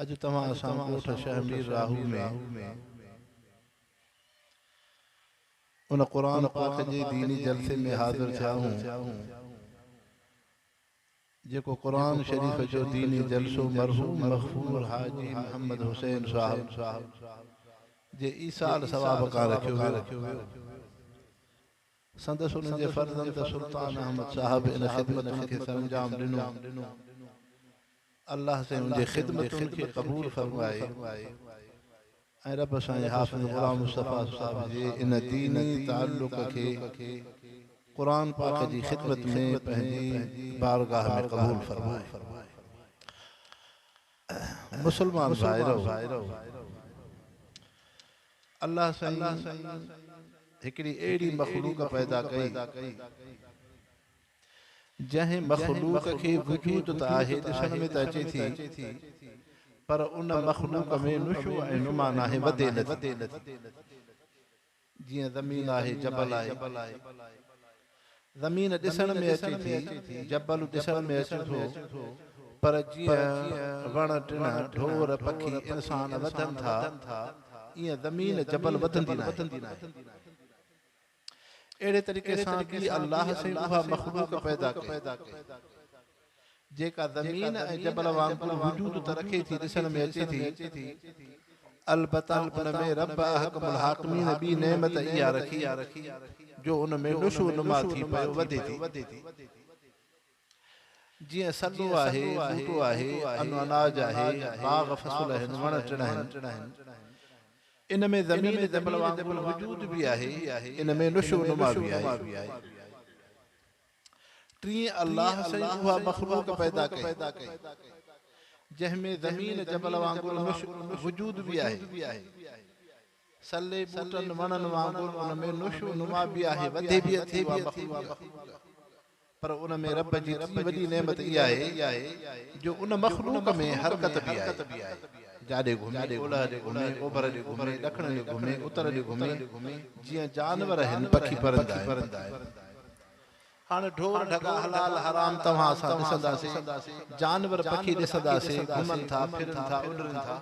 اڄ توهان اسان ڳوٺ شهه مير راهو ۾ ان قرآن پاڪ جي ديني جلسي ۾ حاضر ٿيا آهون، جيڪو قرآن شريف جو ديني جلسو مرحوم مغفور حاجي محمد حسين صاحب جي ايصال ثواب ڪان رکيو ويو. سندس انهن جي فرزند سلطان احمد صاحب ان خدمتن کي سرانجام ڏنو. الله سائين ان جي خدمتن کي قبول فرمائي ۽ رب سائين حافظ غلام مصطفيٰ صاحب جي ان ديني تعلق کي قرآن پاڪ جي خدمت ۾ پنهنجي بارگاهه ۾ قبول فرمائي. مسلمان ڀائرؤ! الله سائين هڪڙي اهڙي مخلوق پيدا ڪئي جنهن مخلوق کي وجود ته آهي ڏسڻ ۾ ته اچي ٿي پر ان مخلوق ۾ نشو ۽ نما ناهي وڌي نٿي جيئن زمين آهي جبل آهي زمين ڏسڻ ۾ اچي ٿي، جبل ڏسڻ ۾ اچي ٿو، پر جيئن وڻ ٽڻ، ڍور، پکي، انسان وڌن ٿا، ايئن زمين جبل وڌندي ناهي. اهڙي طريقي سان به الله سائين اها مخلوق پيدا ڪئي. جيڪا زمين ۽ جبل وانگر وجود ته رکي ٿي، ڏسڻ ۾ اچي ٿي، البته ان ۾ رب احڪم الحاڪمين ٻي نعمت اها رکي، جو ان ۾ نشو نما ٿي پيو وڌي ٿي. جيئن سڳو آهي، ٻوٽو آهي، انو اناج آهي، باغ فصل آهن، وڻ ٽڻ آهن، ان ۾ زمين جبل وانگر وجود به آهي، ان ۾ نشو نما به آهي. ٽين الله سائين اها مخلوق پيدا ڪئي جنهن ۾ زمين جبل وانگر نش وجود به آهي سلي ٻوٽن وڻن وانگر ان ۾ نش و نما به آهي وڌي به اٿي اها مخلوق پر ان ۾ رب جي ٽي وڏي نعمت اها آهي جو ان مخلوق ۾ حرڪت به آهي جا ڏي گهمي اولهه ڏي گهمي اوڀر ڏي گهمي ڏکڻ ڏي گهمي اتر ڏي گهمي جيئن جانور آهن پکي پرندا آهن هاڻ ڍور ڍڳا حلال حرام توهان اسان ڏسنداسين، جانور پکي ڏسنداسين، گهمن ٿا، ڦرن ٿا، اڏرن ٿا.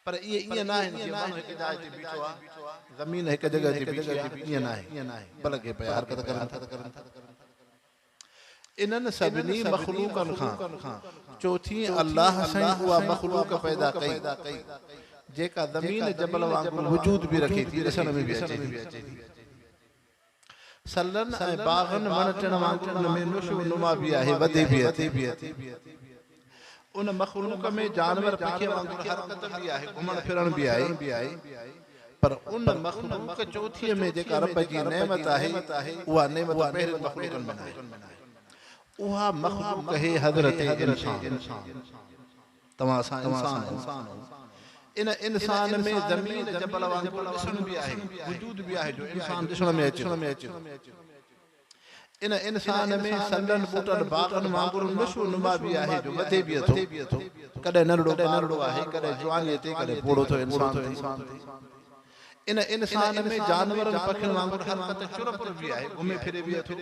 پر اهي ائين ناهن جيئن ماڻهو هڪ جاء تي بيٺو آهي، زمين هڪ جڳهه تي بيٺي آهي، ائين ناهي، بلڪه پيا حرڪت ڪرن ٿا. انهن سڀني مخلوقن کان چوٿين الله سائين اها مخلوق پيدا ڪئي، جيڪا زمين جبل وانگر وجود به رکي ٿي، ڏسڻ ۾ به اچي ٿي. سلن ۽ باغن وڻ ٽڻ وانگر ان ۾ نشو نما به آهي، وڌي به ٿي. ان مخلوق ۾ جانور پکي وانگر حرڪت به آهي، گهمڻ ڦرڻ به آهي، پر ان مخلوق چوٿيء ۾ جيڪا رب جي نعمت آهي، اها نعمت ٻيهرين مخلوقن ۾ ناهي. اها مخلوق هي حضرت انسان. توهان اسان انسان هو. ان انسان ۾ زمين جبل وانگر ڏسڻ به آهي، وجود به آهي جو انسان ڏسڻ ۾ اچي ٿو. ان انسان ۾ سنگن ٻوٽن باغن وانگر نشو نما به آهي جو وڌي به ٿو. ڪڏهن ننڍڙو ٻارڙو آهي، ڪڏهن جوانيء تي، ڪڏهن پوڙهو ٿو انسان ٿئي. ان انسان ۾ جانورن پکين وانگر حرڪت چرپر به آهي، گهمي ڦري به ٿو.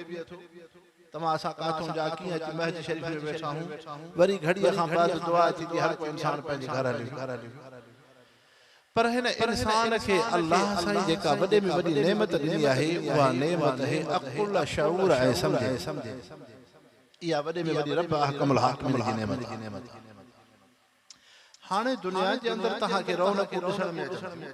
توهان اسان ڪاٿون جا ڪيئن اچي مهج شريف ۾ ويٺا هون. وري گهڙيء کان بعد دعا ٿيندي هر ڪو انسان پنهنجي گهر هليو. پر هن انسان کي الله سائين جيڪا وڏي ۾ وڏي نعمت ڏني آهي اها نعمت هي عقل، شعور ۽ سمجهه. اها وڏي ۾ وڏي رب احڪم الحاڪمين جي نعمت آهي. هاڻي دنيا جي اندر توهان کي رونقون ڏسڻ ۾ اچن ٿيون.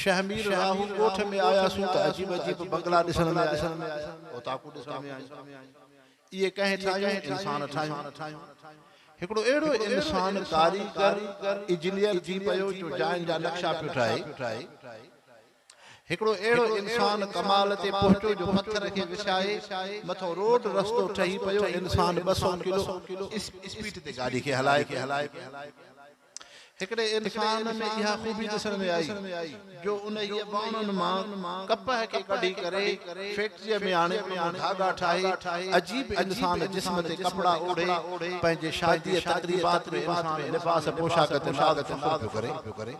شهمير راهو ڳوٺ ۾ آياسون ته عجيب عجيب بنگلا ڏسڻ ۾ آيا، اوطاقون ڏسڻ ۾ آيون. اهي ڪنهن ٺاهيون؟ انسان ٺاهيون. هڪڙو اهڙو انسان ڪاريگر، اجنيئر ٿي پيو جو جاين جا نقشا پيو ٺاهي. هڪڙو اهڙو انسان ڪمال تي پهچو جو پٿر کي وسائي مٿو روڊ رستو ٺهي پيو انسان ٻه سؤ ڪلو اسپيڊ تي گاڏي کي هلائي پيو هڪڙي انسان ۾ اها خوبي ڏسڻ ۾ آئي جو انهيء ٻانهن مان ڪپهه کي ڪڍي ڪري فيڪٽريء ۾ آڻي ان مان ڌاڳا ٺاهي عجيب انسان جسم تي ڪپڙا اوڍي پنهنجي شاديء تقريبات ۾ انسان لباس پوشاڪ تي ناز فخر پيو ڪري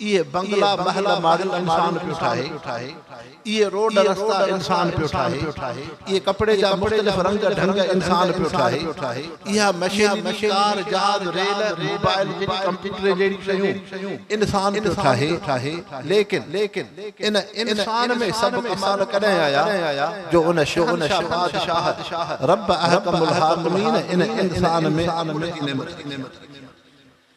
اهي بنگلا محل ماڙيون انسان پيو ٺاهي، اهي روڊ رستا انسان پيو ٺاهي، اهي ڪپڙي جا مختلف رنگ ڍنگ انسان پيو ٺاهي، اها مشينري، ڪار، جهاز، ريل، موبائل جهڙي ڪمپيوٽر جهڙيون شيون انسان پيو ٺاهي، ليڪن ان انسان ۾ سڀ ڪمال ڪڏهن آيا جو ان شهنشاهه بادشاهه رب احڪم الحاڪمين ان انسان ۾ عقل جي نعمت رکي.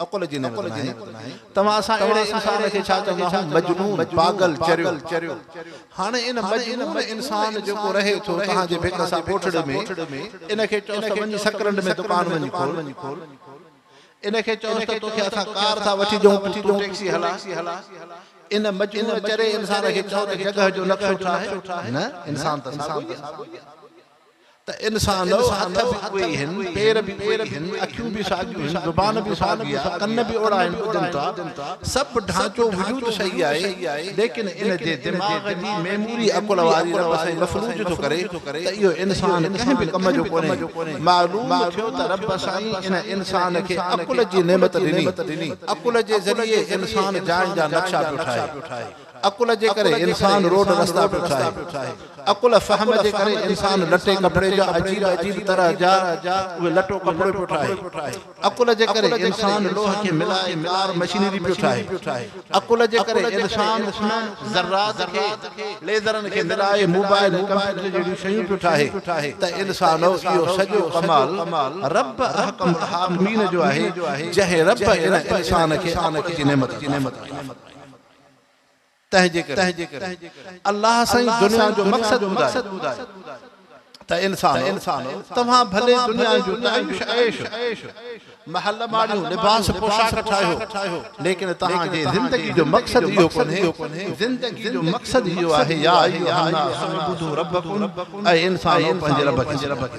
عقل جي نعمت ناهي. توهان اسان اهڙي انسان کي ڇا چوندا هئون؟ مجنون، پاڳل، چريو. هاڻي ان مجنون انسان جيڪو رهي ٿو توهان جي ڀت سان ڳوٺڙي ۾، ان کي چئوس ته وڃي سڪرنڊ ۾ دڪان وڃي کول. ان کي چئوس ته توکي اسان ڪار ٿا وٺي ڏيون ته تون ٽيڪسي هلا. ان مجنون چري انسان کي چئو ته جڳهه جو نقشو ٺاهه. نه، انسان ته ساڳيو ئي آهي. ته انسان ۽ هٿ به اهي ئي هن، پير به اهي ئي هن، اکيون به ساڳيون هن، زبان به ساڳي آهي، ڪن به اوڙا هن، ٻڌن ٿا، سڀ ڍانچو وجود صحيح آهي، ليڪن ان جي دماغ جي ميموري عقل واري رب سائين مفلوج ٿو ڪري ته اهو انسان ڪنهن به ڪم جو ڪونهي. معلوم ٿيو ته رب سائين ان انسان کي عقل جي نعمت ڏني، عقل جي ذريعي انسان جاين جا نقشا پيو ٺاهي. عقل جي ڪري انسان روڊ رستا پيو ٺاهي. عقل فهم جي ڪري انسان لٽي ڪپڙي جا عجيب عجيب طرح جا اهي لٽو ڪپڙو پيو ٺاهي. عقل جي ڪري انسان لوهه کي ملائي ڪار مشينري پيو ٺاهي. عقل جي ڪري انسان انهن ذرات کي ليزرن کي ملائي موبائل ۽ ڪمپيوٽر جهڙيون شيون پيو ٺاهي ته انسانو اهو سڄو ڪمال رب احڪم الحاڪمين جو آهي جنهن رب ان انسان کي عقل جي نعمت عطا فرمائي. تنهنجي ڪري الله سائين دنيا جو مقصد ٻڌائي ته انسانو توهان ڀلي دنيا جو تعيش عيش محل ماڻيو لباس پوشاڪ ٺاهيو ليڪن توهان جي زندگي جو مقصد اهو ڪونهي زندگي جو مقصد اهو آهي يا ايها الناس اعبدوا ربکم اي انسانو پنهنجي رب کي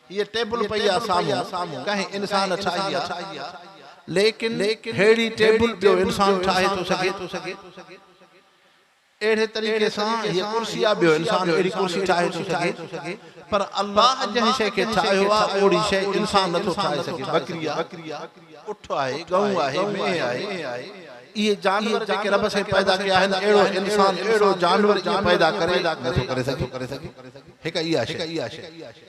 هيء ٽيبل پئي آ سامهون، ڪنهن انسان ٺاهي آ. ليڪن ههڙي ٽيبل ٻيو انسان ٺاهي ٿو سگهي؟ اهڙي طريقي سان هيء ڪرسي آ، ٻيو انسان اهڙي ڪرسي ٺاهي ٿو سگهي؟ پر الله جنهن شيء کي ٺاهيو آ، اهڙي شيء انسان نٿو ٺاهي سگهي. ٻڪري آ، اٺ آهي، ڳئون آهي، مينهن آهي، اهي جانور جيڪي رب سائين پيدا ڪيا آهن، اهڙو انسان، اهڙو جانور ائين پيدا ڪري نٿو ڪري سگهي. هڪ اها شيء.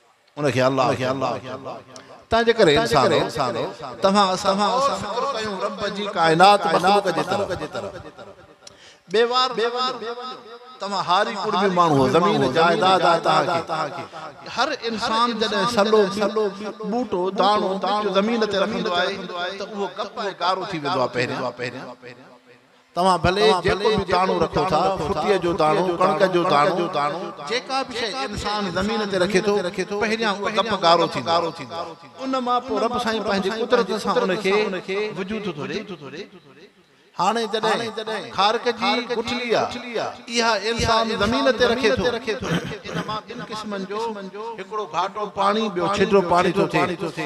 ان کي الله چئبو آهي. تنهن جي ڪري انسانو! توهان اسان غور فڪر ڪيون رب جي ڪائنات مخلوق جي طرف. بيوار نه وڃو. توهان هاري ڪڙمي ماڻهو، زمين جائداد آهي توهان کي. هر انسان جڏهن سلو، ٻوٽو، داڻو، ٻچو زمين تي رکندو آهي ته اهو ڪپ ۽ گارو ٿي ويندو آهي پهريان. توهان ڀلي جيڪو به داڻو رکو ٿا، ڦٽيء جو داڻو، ڪڻڪ جو داڻو، جيڪا به شيء انسان زمين تي رکي ٿو، پهريان اهو گپ گارو ٿيندو آهي. ان مان پوء رب سائين پنهنجي قدرت سان ان کي وجود ٿو ڏئي. هاڻي جڏهن کارڪ جي گٺلي آهي، اها انسان زمين تي رکي ٿو، ان مان ٻن قسمن جو هڪڙو گهاٽو پاڻي، ٻيو ڇڊو پاڻي ٿو ٿئي.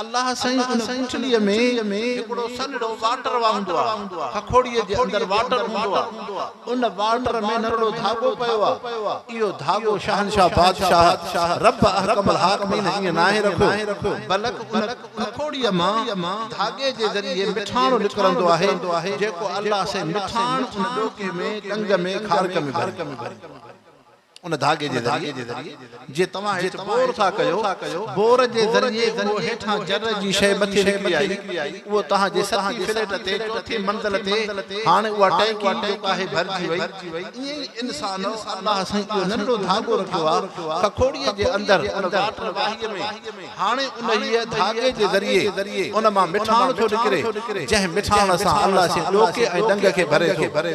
الله سائين ان ڪٺليء ۾ هڪڙو سنهڙو واٽر واهندو آهي. هکوڙيء جي اندر واٽر هوندو آهي. ان واٽر ۾ نرڙو ڌاڳو پيو آهي. اهو ڌاڳو شهنشاهه بادشاهه رب احڪم الحاڪمين ائين ناهي رکيو، بلڪ ان هکوڙيء مان ڌاڳي جي ذريعي مٺاڻ نڪرندو آهي، جيڪو الله سائين مٺاڻ ان ڏوڪي ۾، ڏنگ ۾، کارڪ ۾ ڀري. ان ڌاڳي جي ذريعي جي توهان هيٺ بور ٿا ڪيو، بور جي ذريعي اهو هيٺان جر جي شيء مٿي نڪري آئي، اهو توهان جي ستين فليٽ تي چوٿين منزل تي هاڻي اها ٽئنڪي جيڪا آهي ڀرجي وئي. ائين ئي انسان الله سائين اهو ننڍڙو ڌاڳو رکيو آهي ککوڙيء جي اندر ان واٽر واهيء ۾. هاڻي انهيء ڌاڳي جي ذريعي ان مان مٺاڻ ٿو نڪري، جنهن مٺاڻ سان الله سين ڏوڪي ۽ ڏنگ کي ڀري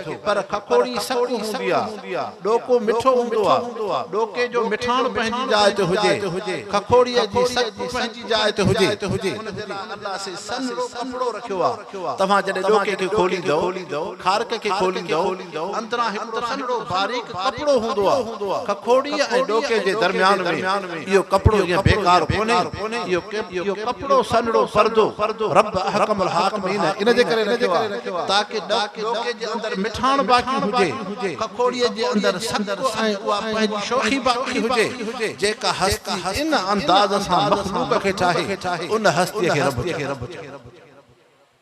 ٿو. پر ککوڙي سڪ هوندي آ. ڏوڪو مٺو هوندو آ. ڏوڪي جو مٺاڻ پنهنجي جاء تي هجي، ککوڙيء جي سڪ پنهنجي جاء تي هجي. ان ڪري الله سين سنهڙو ڪپڙو رکيو آ. توهان جڏهن ڏوڪي کي کوليندؤ، کارڪ کي کوليندؤ، اندران هڪڙو سنهڙو باريڪ ڪپڙو هوندو آهي. ککوڙيء ۽ ڏوڪي جي درميان ۾ اهو ڪپڙو جيئن بيڪار ڪونهي، اهو ڪپڙو سنهڙو پردو رب احڪم الحاڪمين ان جي ڪري رکيو آهي تاڪه ڏوڪي جي اندر مٺاڻ باقي هجي، ککوڙيء جي اندر سڪ ۽ اها پنهنجي شوخي باقي هجي، جيڪا هستي ان انداز سان مخلوق کي چاهي، ان هستيء کي رب چئبو آهي.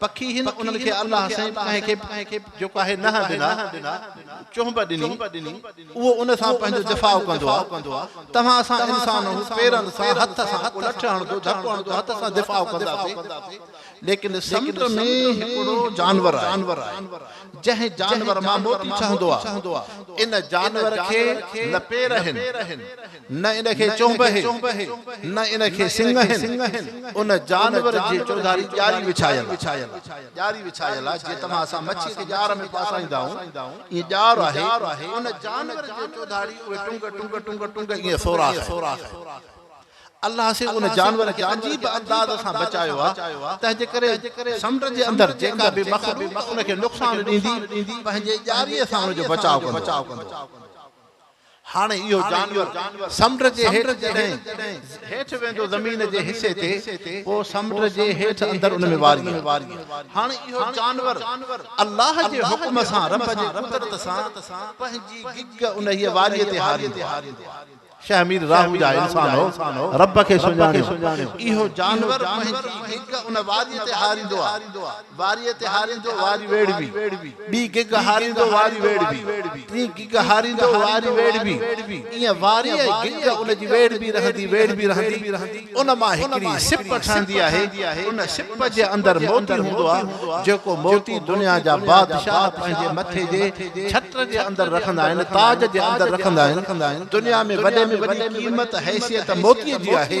پکي هن انهن کي الله سائين ڪنهن کي به جيڪو آهي نهن ڏنا، چهنب ڏني، اهو ان سان پنهنجو دفاع ڪندو آهي. توهان اسان انسان هو پيرن سان هٿ سان ڪو لٺ هڻندو، ڌڪ هڻندو، هٿ سان دفاع ڪنداسين. ليڪن سمنڊ ۾ هڪڙو جانور آهي، جنهن جانور مان موتي ٺهندو آهي. ان جانور کي نه پير آهن. نه ان کي چونبهي، نه ان کي سنگهين، ان جانور جي چوڌاري ڄاري وڇايل آهي. ڄاري وڇايل آهي، جيئن توهان سان مڇيء کي ڄار ۾ ڦاسائيندا آهيون، ائين ڄار آهي، ان جانور جي چوڌاري اهي ٽنگ ٽنگ ٽنگ ٽنگ ائين سوراخ آهي. الله سي ان جانور کي عجيب انداز سان بچايو آهي، تنهن جي ڪري سمنڊ جي اندر جيڪا به مخلوق ان کي نقصان ڏيندي، پنهنجي ڄاريء سان ان جو بچاء ڪندو. هاڻ اهو جانور سمنڊ جي هيٺ جڏهن هيٺ ويندو زمين جي حصي تي پوء سمنڊ جي هيٺ اندر ان ۾ واري هاڻ اهو جانور الله جي حڪم سان رب جي قدرت سان پنهنجي گگ انهيء واري تي هاريندو آهي شيخ مير راهو جا انسان هو رب کي سڃاڻيو اهو جانور پنهنجي گگ ان واري تي هاريندو آهي واريء تي هاريندو واري ويڙهبي، ٻي گگ هاريندو واري ويڙهبي، ٽين گگ هاريندو واري ويڙهبي، ائين واري ۽ گگ ان جي ويڙهبي رهندي ويڙهبي رهندي ان مان هڪڙي سپ ٺهندي آهي، ان سپ جي اندر موتي هوندو آهي، جيڪو موتي دنيا جا بادشاهه پنهنجي مٿي جي ڇٽر جي اندر رکندا آهن، تاج جي اندر رکندا آهن، دنيا ۾ وڏي ۾ وڏي قيمت حيثيت موتي جي آهي،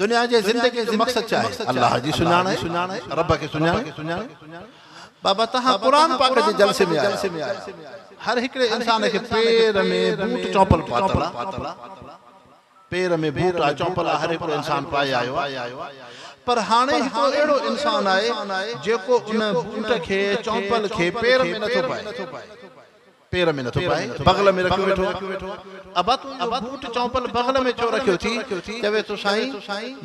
دنيا جي زندگي جو مقصد ڇا آهي؟ الله جي سڃاڻ آهي، رب کي سڃاڻي. بابا توهان قرآن پاڪ جي جلسي ۾ آيا آهيو، هر هڪڙي انسان کي پير ۾ بوٽ چمپل پاتل آهي، پير ۾ بوٽ آهي چمپل آهي هر هڪڙو انسان پائي آيو آهي، پر هاڻي هڪڙو اهڙو انسان آهي جيڪو ان بوٽ کي چمپل کي پير ۾ نٿو پائي. پير ۾ نٿو پائي بغل ۾ رکيو ويٺو آهي. ابا تنهنجو بوٽ چمپل بغل ۾ ڇو رکيو ٿي؟ چوي ٿو سائين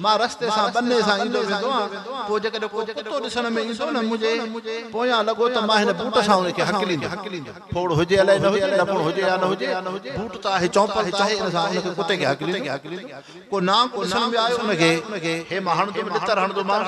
مان رستي سان ٻني سان ايندو ويندو آهيان پوء جيڪڏهن ڪو ڪتو ڏسڻ ۾ ايندو نه منهنجي پويان لڳو ته مان هن بوٽ سان ان کي هڪليندم. ڦوڙ هجي الائي نه هجي لڪڻ هجي يا نه هجي بوٽ ته آهي چمپل ته آهي ان سان ان کي ڪتي کي هڪليندم. ڪو نانگ ڏسڻ ۾ آيو ان کي هي مان هڻندم ڏتر هڻندومانس.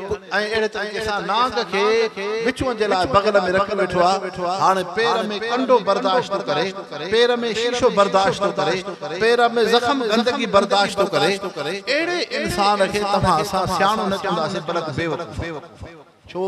۽ اهڙي طريقي سان نانگ کي وچون جي لاء بغل ۾ رکي ويٺو آ، هاڻي پير ۾ ڪنڊو برداشت ٿو ڪري، پير ۾ شيشو برداشت ٿو ڪري، پير ۾ زخم گندگي برداشت ٿو ڪري، اهڙي انسان کي توهان اسان سياڻو نه چونداسين بلڪ بيوقوف. ڇو؟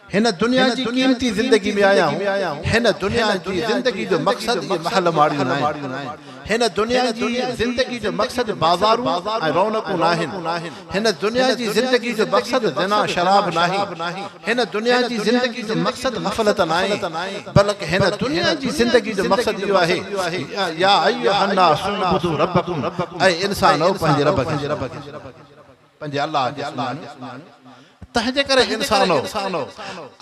هن دنيا جي قيمتي زندگي ۾ آيا آهيون. هن دنيا جي زندگي جو مقصد اهي محل ماڙيون ناهن. هن دنيا جي زندگي جو مقصد بازارون ۽ رونقون ناهن. هن دنيا جي زندگي جو مقصد زنا شراب ناهي. هن دنيا جي زندگي جو مقصد غفلت ناهي. بلڪ هن دنيا جي زندگي جو مقصد اهو آهي، يا ايها الناس اعبدوا ربکم، اي انسانؤ پنهنجي رب کي سڃاڻو. پنهنجي الله کي سڃاڻي، تنهنجي ڪري انسانو!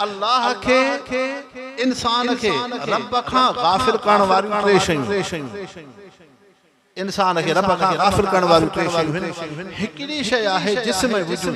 الله کي، انسان کي، رب کان غافل ڪرڻ واريون ٽي شيون، انسان کي رب کان غافل ڪرڻ واريون ٽي شيون هن، هڪڙي شيء آهي جسم ۽ وجود.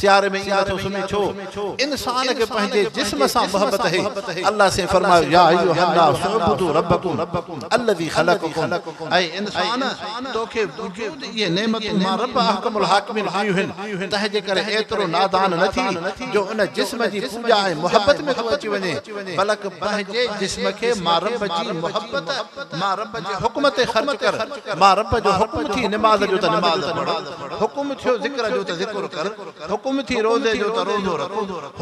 سياري ۾ ائين نٿو سمهين ڇو؟ انسان کي پنهنجي جسم سان محبت اهي. الله سائين فرمايو، يا ايها الناس اعبدوا ربڪم الذي خلقڪم، اي انسان! توکي وجود جي نعمتن مان رب احڪم الحاڪمين ڏنيون هن، تنهنجي ڪري ايترو نادان نه ٿي جو ان جسم جي پوڄا ۽ محبت ۾ تون اچي وڃين، بلڪ پنهنجي جسم کي مان رب جي محبت، مان رب جي حڪم تي خرچ ڪر، مان رب جو حڪم ٿي نماز جو ته نماز پڙهه. حڪم ٿيو ذڪر جو ته ذڪر ڪر، حڪم ٿي روزي جو ته روزو رک،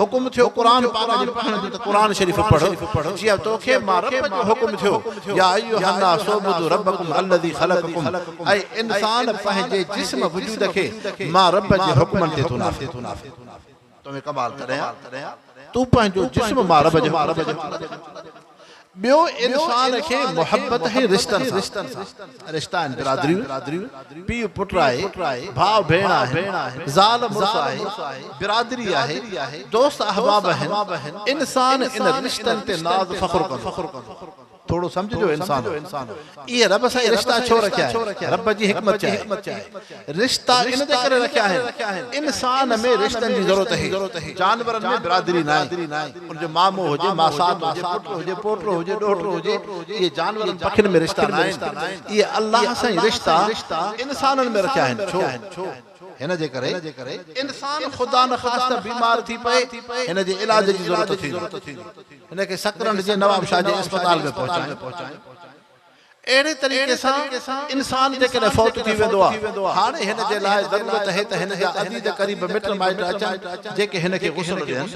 حڪم ٿيو قرآن پاڪ جي پڙهڻ جو ته قرآن شريف پڙهه، جيئن تو کي مان رب جو حڪم ٿيو، يا ايها الناس اعبدوا ربکم الذي خلقکم، اي انسان پنهنجي جسم وجود کي مان رب جي حڪمن تي تون نافذ. توهين ڪمال ڪڏهن ها تون پنهنجو جسم مان رب جي حڪم تي ڪمال ڪرين ٿو ٻيو انسان کي محبت ۽ رشتن سان رشتا آهن برادريون پيء پٽ آهي ڀاء ڀيڻ آهن زال مڙس آهي برادري آهي دوست احباب آهن انسان ان رشتن تي ناز فخر ڪندو ٿورو سمجهه جو انسانو! ايئن رب سائين رشتا ڇو رکيا آهن؟ رب جي حڪمت ڇا آهي؟ رشتا ان جي ڪري رکيا آهن، انسان ۾ رشتن جي ضرورت آهي، جانورن ۾ برادري ناهي، ان جو مامو هجي، ماسات هجي، پٽ هجي، پوٽو هجي، ڏوهٽو هجي، اهي جانورن پکين ۾ رشتا ناهن، اهي الله سائين رشتا انسانن ۾ رکيا آهن، ڇو؟ هن جي ڪري انسان خدا نخواسته بيمار ٿي پئي، هن جي علاج جي ضرورت ٿيندي. هن کي سڪرنڊ جي نواب شاهه جي اسپتال ۾ پهچايائين. اهڙي طريقي سان انسان جيڪڏهن فوت ٿي ويندو آهي، هاڻي هن جي لاء ضرورت هي ته هن جا عزيز قريب مٽ مائٽ اچن، جيڪي هن کي غسل ڏين.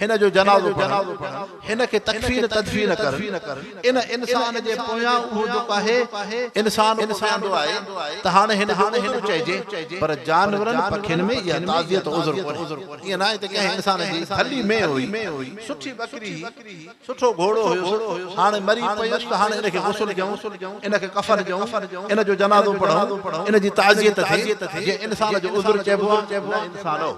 هن جو جنازو پڙهن، هن کي تڪفين تدفين ڪرن، ان انسان جي پويان اهو جو ڪاهي انسان اميدو آهي ته هاڻي هن جو عذر چئجي پر جانورن پکين ۾ اها تعزيت عذر ڪونهي. ائين ناهي ته ڪنهن انسان جي ڀلي مينهن هئي، سٺي ٻڪري هئي، سٺو گهوڙو هيس، هاڻي مري پيس ته هاڻي ان کي غسل ڏيون، ان کي ڪفن ڏيون، ان جو جنازو پڙهون، ان جي تعزيت ٿئي، جنهن انسان جو عذر چئبو آ، نه انسانو!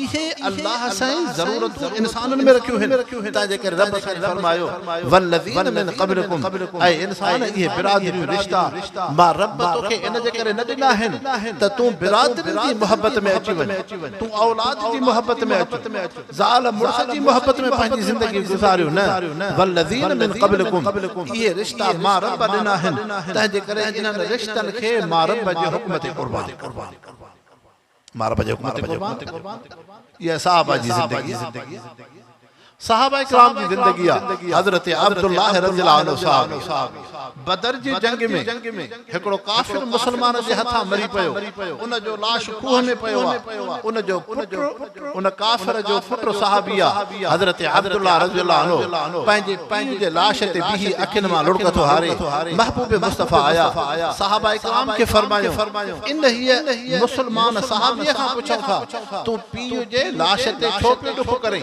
اهي الله سائين ضرورتون انسانن ۾ رکيون هن، تنهن جي ڪري رب سائين فرمايو، والذين من قبلكم، اي انسان اهي برادريون رشتا، مان رب توکي ان جي ڪري نه ڏنا هن ته تون برادرين جي محبت ۾ اچي وڃ، تون اولاد جي محبت ۾ اچ. زال مڙس جي محبت ۾ پنهنجي زندگي گذاريو نه، والذين من قبلكم اهي رشتا مان رب ڏنا آهن، تنهنجي ڪري انهن رشتن کي مان رب جي حڪم تي قربان ڪر. مان رب جي حڪم تي قربان ڪر. اها صحابه جي زندگي آهي. صحابه ڪرام جي زندگي آهي. حضرت عبدالله رضي الله عنه صحابي. بدر جي جنگ ۾ هڪڙو ڪافر مسلمان جي هٿان مري پيو، ان جو لاش کوهه ۾ پيو آ، ان جو پٽ ان ڪافر جو پٽ صحابي آ، حضرت عبدالله رضي الله عنه پنهنجي پيء جي لاش تي بيهي اکين مان لڙڪ ٿو هاري، محبوب مصطفيٰ آيا، صحابه ڪرام کي فرمايو، انهيء مسلمان صحابيء کان پڇو ٿا، تون پيء جي لاش تي ڇو پيو ڏک ڪرين؟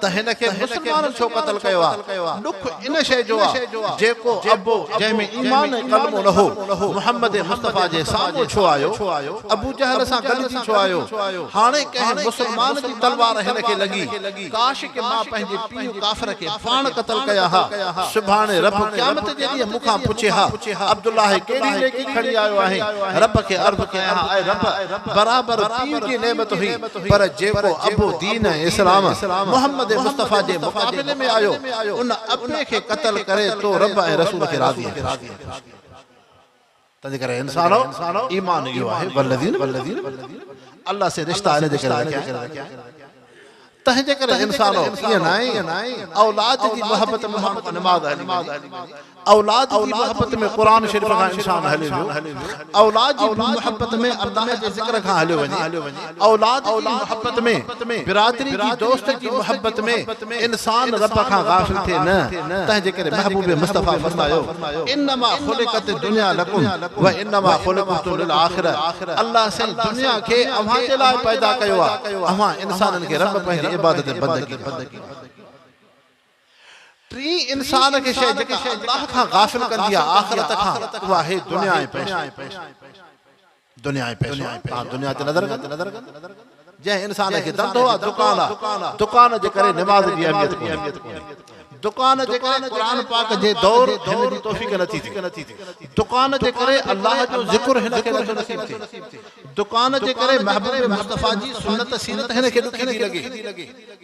ته هن کي مسلمانن ڇو قتل ڪيو آ؟ ڏک ان شيء جو آ، جيڪو ابو جنهن ۾ ايمان ۽ ڪلمو نه هو، محمد مصطفيٰ جي سامهون ڇو آيو؟ ابو جهل سان گڏجي ڇو آيو؟ هاڻي ڪنهن مسلمان جي تلوار هن کي لڳي. ڪاش ڪي مان پنهنجي پيء ڪافر کي پاڻ قتل ڪيا ها. سڀاڻي رب قيامت جي ڏينهن مون کان پڇي ها، عبدالله هي ڪهڙي نيڪي کڻي آيو آهين؟ رب کي عرض ڪيان ها، اي رب! برابر پيء جي نعمت هئي. پر جيڪو ابو دين ۽ اسلام محمد مصطفيٰ جي مقابلي ۾ آيو، ان ابي کي قتل ڪري تو رب ۽ رسول کي راضي ۽ خوش ڪيو. تنهنجي ڪري انسانو! ايمان اهو آهي، والذين من قبلهم، الله سين رشتا ان جي ڪري رکيا آهن. تنهنجي ڪري انسانو! ائين ناهي، اولاد جي محبت ۾ ماڻهن کان نماز هلي ويندي. اولاد جي محبت ۾ قرآن شريف کان انسان هليو ويو، اولاد جي محبت ۾ الله جي ذڪر کان هليو وڃي، اولاد جي محبت ۾ برادري جي دوست جي محبت ۾ انسان رب کان غافل ٿئي نه، تنهنجي ڪري محبوب مصطفيٰ فرمايو، انما خلقت الدنيا لڪم وانما خلقت للاخرة الله سائين دنيا کي اوهان جي لاء پيدا ڪيو آهي، اوهان انسانن کي رب پنهنجي عبادت ۽ بندگي ۾ ٽين انسان کي شيء جيڪا الله کان غافل ڪندي آهي آخرت کان اهو آهي دنيا ۽ پئسو. دنيا ۽ پئسو، توهان دنيا تي نظر ڪندا. جنهن انسان کي ڌنڌو آهي، دڪان آهي، دڪان جي ڪري نماز جي اهميت ڪونهي. دڪان جي ڪري قرآن پاڪ جي دور هن جي توفيق نٿي ٿئي. دڪان جي ڪري الله جو ذڪر هن کي نٿو نصيب ٿئي. دڪان جي ڪري محبوب مصطفيٰ جي سنت سيرت هن کي ڏکي ٿي لڳي.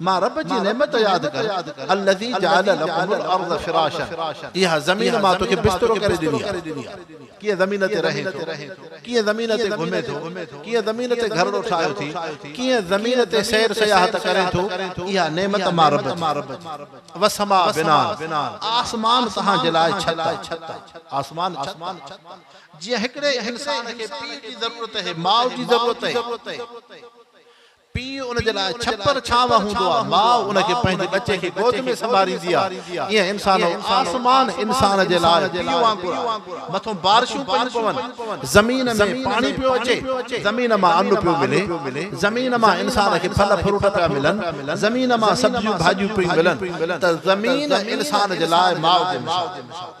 مان رب جي نعمت ياد ڪر، الذي جعل لكم الارض فراشا اها زمين مان توکي بسترو ڪري ڏني آهي، ڪيئن زمين تي رهين ٿو، ڪيئن زمين تي گهمين ٿو، ڪيئن زمين تي گهرڙو ٺاهيو ٿي، ڪيئن زمين تي سير سياحت ڪرين ٿو، اها نعمت مان رب جي. والسماء بناء، آسمان توهان جي لاء ڇت آهي، آسمان ڇت آهي، جيئن هڪڙي انسان کي پيء جي ضرورت اهي، ماء جي ضرورت اهي، پيء ان جي لاء ڇپر ڇانو هوندو آهي، ماء ان کي پنهنجي ٻچي کي گود ۾ سنڀاريندي آهي. ايئن انسانو! آسمان انسان جي لاء پيء وانگر آهي. مٿون بارشون پيون پون، زمين ۾ پاڻي پيو اچي، زمين مان ان پيو ملي، زمين مان انسان کي ڦل فروٽ پيا ملن، زمين مان سبزيون ڀاڄيون پيون ملن ته زمين انسان جي لاء ماء جو مثال آهي.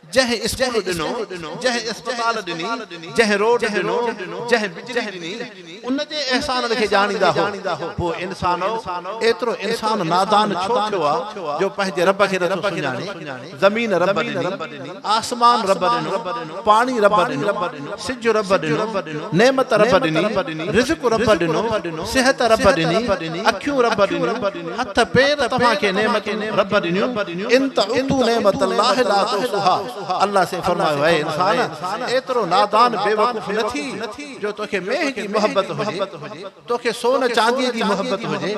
جنهن اسڪول ڏنو، جنهن اسپتال ڏني، جنهن روڊ ڏنو، جنهن بجلي ڏني، ان جي احسانن کي ڄاڻيندا هو. پوء انسانؤ! ايترو انسان نادان ڇو ٿيو آ، جو پنهنجي رب کي نٿو سڃاڻي؟ زمين رب ڏني، آسمان رب ڏنو، پاڻي رب ڏنو، سج رب ڏنو، نعمت رب ڏني، رزق رب ڏنو، صحت رب ڏني، اکيون رب ڏنيون، هٿ پير توهان کي نعمتون رب ڏنيون، ان تعدوا نعمت الله لا تحصوها الله سائين فرمايو اي انسان ايترو نادان بيوقوف نه ٿي جو توکي مينهن جي محبت هجي. توکي سون چانديء جي محبت هجي،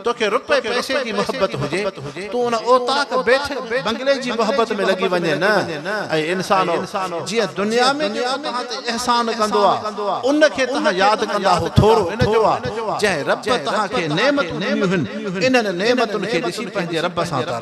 توکي رپئي پئسي جي محبت هجي، تون ان اوطاق بيٺڪ بنگلي جي محبت ۾ لڳي وڃين نه. اي انسانو! جيئن دنيا ۾ جيڪو توهان تي احسان ڪندو آ، ان کي توهان ياد ڪندا اهو ٿورو ان جو آ، جنهن رب توهان کي نعمتون ڏنيون هن، انهن نعمتن کي ڏسي پنهنجي رب سان تر.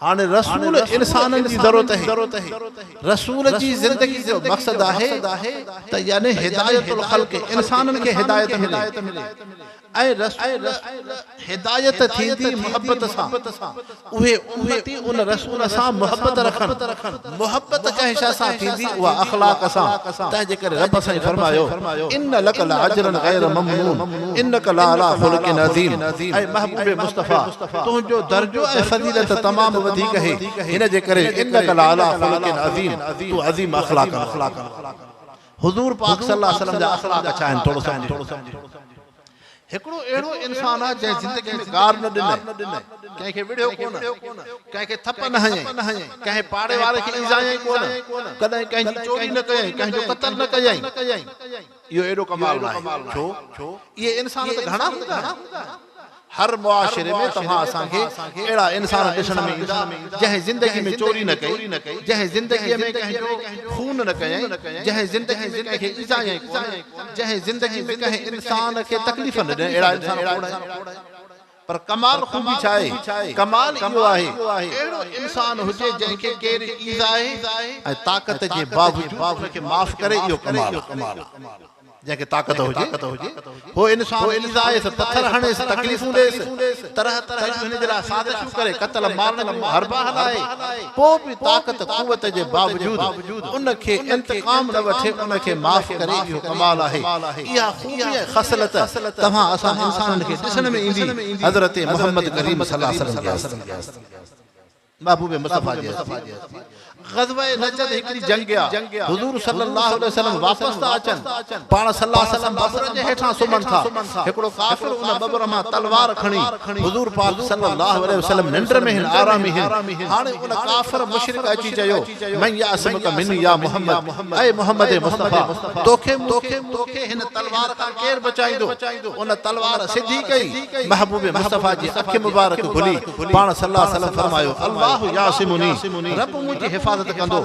هاڻي رسول انسانن جي ضرورت هي. رسول جي زندگي جو مقصد آهي ته يعني هدايت الخلق انسانن کي هدايت ملي ۽ رسول هدايت ٿيندي محبت سان اهي امتي ان رسول سان محبت رکن محبت ڪنهن شيء سان ٿيندي اها اخلاق سان، تنهن جي ڪري رب سائين فرمايو، ان لڪ لاجرا غير ممنون انڪ لعليٰ خلق عظيم، اي محبوب مصطفيٰ! تنهنجو درجو ۽ فضيلت تمام وڌيڪ هي، هن جي ڪري انڪ لعليٰ خلق عظيم، تون عظيم اخلاقن وارو آهين. حضور پاڪ صلي الله عليه وسلم جا اخلاق ڇا آهن ٿورو سمجهه. هڪڙو اهڙو انسان آ جنهن زندگي ۾ گار نه ڏني، ڪنهن کي وڙهيو ڪونه، ڪنهن کي ٿڦ نه هنيائين، ڪنهن پاڙي واري کي ايذايائين ڪونه، ڪڏهن ڪنهن جي چوري نه ڪيائين، ڪنهن جو قتل نه ڪيائين. اهو ايڏو ڪمال ناهي ڇو؟ اهي انسان ته گهڻا هوندا آهن. هر معاشري ۾ توهان اسان کي اهڙا انسان ڏسڻ ۾ ايندا جنهن زندگي ۾ چوري نه ڪئي، جنهن زندگي ۾ ڪنهن جو خون نه ڪيائين، جنهن زندگي ۾ ڪنهن کي ايذايائين ڪونه، جنهن زندگي ۾ ڪنهن انسان کي تڪليف نه ڏني اهڙا انسان کوڙ آهن پر ڪمال خوبي ڇا آهي ڪمال اهو آهي اهڙو انسان هجي جنهن کي ڪير ايذائي ۽ طاقت جي باوجود ان کي معاف ڪري اهو ڪمال آهي جنهن کي طاقت هجي هو انسان ايذائيس پٿر هڻيس تڪليفون ڏيس طرح طرح جون هن جي لاء سازشون ڪري قتل مارڻ جون حربا هلائي پوء به طاقت قوت جي باوجود ان کي انتقام نه وٺي ان کي معاف ڪري اهو ڪمال آهي اها خوبي ۽ خصلت توهان اسان انسانن کي ڏسڻ ۾ ايندي حضرت محمد ڪريم صلعم جي محبوب مصطفيٰ جي هستي. غزوه نجد هڪڙي جنگ آ. حضور صلّي اللّٰه عليه وسلّم واپس ٿا اچن. پاڻ صلّي اللّٰه عليه وسلّم ٻٻر جي هيٺان سمهن ٿا. هڪڙو ڪافر ان ٻٻر مان تلوار کڻي حضور پاڪ صلّي اللّٰه عليه وسلّم ننڊ ۾ هن آرامي هن. هاڻي ان ڪافر مشرڪ اچي چيو، من يعصمڪ منّي يا محمّد، اي محمّد مصطفيٰ! توکي مون کي مون کي هن تلوار کان ڪير بچائيندو؟ ان تلوار سڌي ڪئي. محبوب مصطفيٰ جي اک مبارڪ کلي. پاڻ صلّي اللّٰه عليه وسلّم فرمايو، اللّٰه يعصمني، ربّ منهنجي حفاظت ڪندو.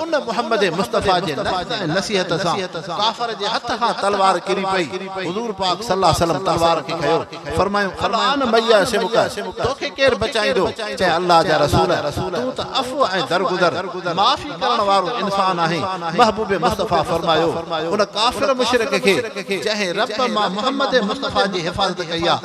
ان محمّد مصطفٰي جي لفظ ۽ نصيحت سان ڪافر جي هٿ کان تلوار ڪري پئي. حضور پاڪ صلّي اللّٰه عليه وسلّم تلوار کي کنيو، فرمايون، الآن من يعصمڪ، توکي ڪير بچائيندو؟ چيائين، اللّٰه جا رسول! تون ته عفو ۽ درگذر، معافي ڪرڻ وارو، انسان آهين. محبوب مصطفٰي فرمايو، ان ڪافر مشرڪ کي، جنهن ربّ مان محمّد مصطفٰي جي حفاظت ڪئي آهي،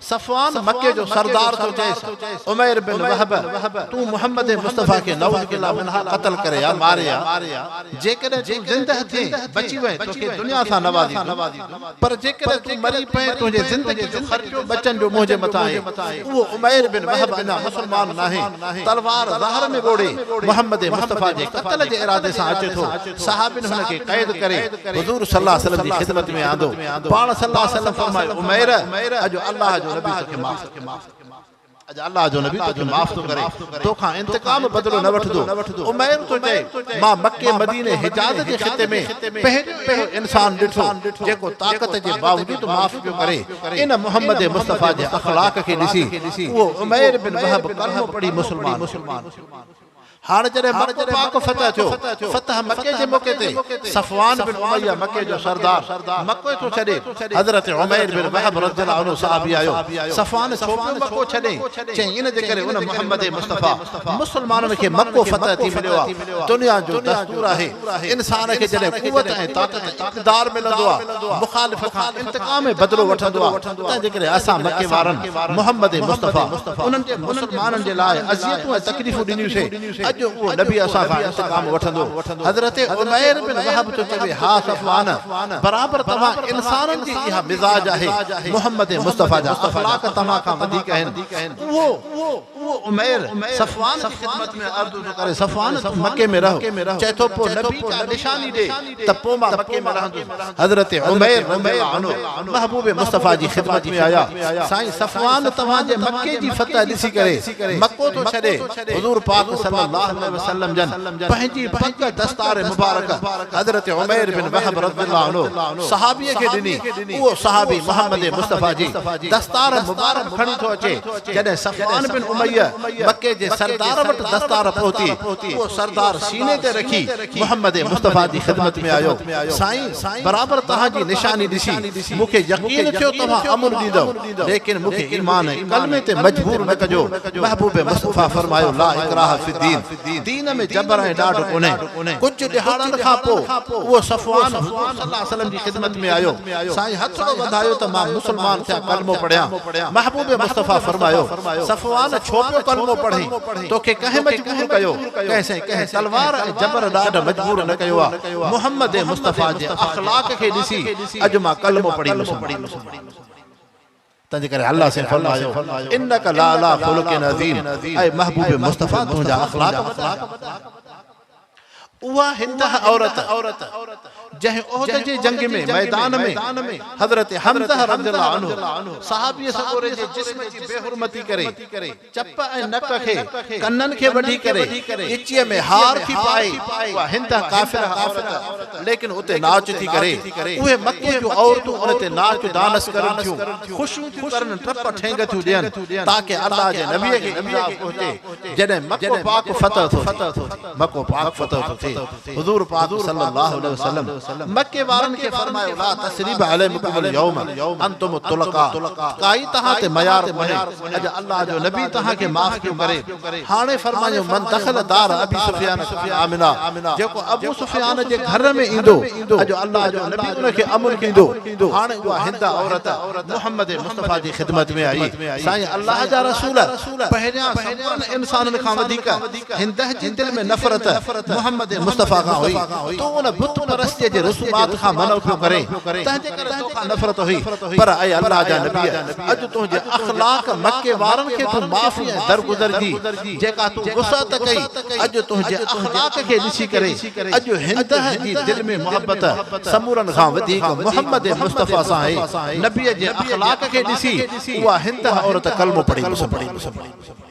صفوان مڪي جو سردار ٿو چئيس، عمير بن وهب، تون محمد مصطفيٰ کي نعوذ بالله منها قتل ڪري آء، ماري آء، جيڪڏهن تون زنده ٿئين، بچي وئين، توکي دنيا سان نوازيندم، پر جيڪڏهن تون مري پئين، تنهنجي زندگي جو خرچو ٻچن جو منهنجي مٿان آهي. اهو عمير بن وهب اڃا مسلمان ناهي، تلوار ظهر ۾ ٻوڙي، محمد مصطفيٰ جي قتل جي ارادي سان اچي ٿو. صحابين هن کي قيد ڪري حضور صلي الله عليه وسلم جي خدمت ۾ آندو. پاڻ صلي الله عليه وسلم فرمايو، عمير! اڄ الله جو نبي توکي معاف ٿو ڪري. اڄ الله جو نبي توکي معاف ٿو ڪري. توکان انتقام بدلو نه وٺندو. عمير ٿو چئي، مان مڪي، مديني، حجاز جي خطي ۾ پهريون اهڙو انسان ڏٺو، جيڪو طاقت جي باوجود معاف پيو ڪري. ان محمد مصطفيٰ جي اخلاق کي ڏسي، اهو عمير بن وهب ڪلمو پڙهي مسلمان ٿيو. هاڻ جڏهن مڪو پاڪ فتح ٿيو، فتح مڪي جي موقعي تي صفوان بن اميه مڪي جو سردار مڪو ٿو ڇڏي، حضرت عمير بن وهب رضي الله عنه صحابي آيو، صفوان ڇو پيو مڪو ڇڏين؟ چيائين ان جي ڪري ان محمد مصطفيٰ مسلمانن کي مڪو فتح ٿي مليو آهي، دنيا جو دستور آهي. انسان کي جڏهن قوت ۽ طاقت ۽ اقتدار ملندو آهي، مخالف کان انتقام ۽ بدلو وٺندو آهي، تنهن جي ڪري اسان مڪي وارن محمد مصطفيٰ انهن جي مسلمانن جي لاء اذيتون ۽ تڪليفون ڏنيون سي، اڄ اهو نبي اسان کان انتقام وٺندو. حضرت عمير بن وهب ٿو چوي، ها صفوان! برابر توهان انسانن جي اها مزاج آهي، محمد مصطفيٰ جا اخلاق توهان کان وڌيڪ آهن، اهو. اهو عمير صفوان جي خدمت ۾ عرض ٿو ڪري، صفوان! تون مڪي ۾ رهه. چئي ٿو، پوء نبي ڪا نشاني ڏي ته پوء مان مڪي ۾ رهندس. حضرت عمير رضي الله عنه محبوب مصطفيٰ جي خدمت ۾ آيا، سائين صفوان توهان جي مڪي جي فتح ڏسي ڪري مڪو ٿو ڇڏي. حضور پاڪ صلّي اللّٰه عليه وسلّم جن پنهنجي پڳ دستار مبارڪ حضرت عمير بن وهب رضي الله عنه صحابي کي ڏني. اهو صحابي محمّد مصطفيٰ جي دستار مبارڪ کڻي ٿو اچي. جڏهن صفوان بن اميه مڪي جي سردار وٽ دستار پهتي، اهو سردار سيني تي رکي محمد مصطفيٰ جي خدمت ۾ آيو، سائين! برابر توهان جي نشاني ڏسي، مون کي يقين ٿيو توهان امن ڏيندؤ، ليڪن مون کي ايمان ۽ ڪلمي تي مجبور نه ڪجو، محبوب مصطفيٰ فرمايو، لا اڪراه في الدين! دين ۾ جبر ۽ ڏاڍ ڪونهي. ڪجهه ڏهاڙن کان پوء اهو صفوان حضور صلّي الله عليه وسلّم جي خدمت ۾ آيو. سائين هٿڙو وڌايو ته مان مسلمان ٿيان ڪلمو پڙهيان. محبوب مصطفٰي فرمايو، صفوان ڇو پيو ڪلمو پڙهين؟ توکي ڪنهن مجبور ڪيو؟ ڪنهن سائين ڪنهن تلوار ۽ جبر ڏاڍ مجبور نه ڪيو آهي. محمّد مصطفٰي جي اخلاق کي ڏسي اڄ مان ڪلمو پڙهي مسلمان ٿيس. تنهنجي ڪري الله سائين فرمايو انک لعلٰي خلق عظيم اي محبوب مصطفٰي تنهنجا اخلاق وڏا آهن. اها هنده عورت جنهن احد جي جنگ ۾ ميدان ۾ حضرت حمزه رضي الله عنه صحابي سڳوري جي جسم جي بي حرمتي ڪري چپ ۽ نڪ کي، ڪنن کي وڍي ڪري، ڳچيء ۾ هار ٿي پائي، اها هنڌان قافله عورت، ليڪن اتي ناچ ٿي ڪري. اهي مڪي جون عورتون ان تي ناچ ڊانس ڪرن ٿيون، خوشيون ٿيون ڪرن، ٽپ ٺينگ ٿيون ڏين، تاڪه الله جي نبيء کي عذاب پهچي، جڏهن مڪو پاڪ فتح ٿو ٿئي. حضور پاڪ صلّي اللّٰه عليه وسلّم مڪي وارن کي فرمايو، لا تثريب عليمڪم اليوم انتم الطلقاء ڪائي توهان تي ميار ڪونهي، اڄ الله جو نبي توهان کي معاف پيو ڪري. هاڻي فرمايو، من دخل دار ابي سفيان ڪان آمنا، جيڪو ابو سفيان جي گهر ۾ ايندو، اڄ الله جو نبي ان کي امن ڏيندو. هاڻي اها هنده عورت محمّد مصطفٰي جي خدمت ۾ آئي، سائين الله جا رسول پهريان سمورن انسانن کان وڌيڪ، هندهه جي دل ۾ نفرت محمد مصطفيٰ کان هئي، تون ان بت پرستيء جي رسومات کان منع پيو ڪرين، تنهنجي ڪري تو کان نفرت هئي، پر اي الله جا نبيء! اڄ تنهنجي اخلاق مڪي وارن کي تون معافي ۽ درگذر جي جيڪا تون وسعت ڪئي، اڄ تنهنجي اخلاق کي ڏسي ڪري اڄ هندهه جي دل ۾ محبت سمورن کان وڌيڪ محمد مصطفيٰ سان آهي، نبيء جي اخلاق کي ڏسي اها هندهه عورت ڪلمو پڙهي مسلمان ٿي.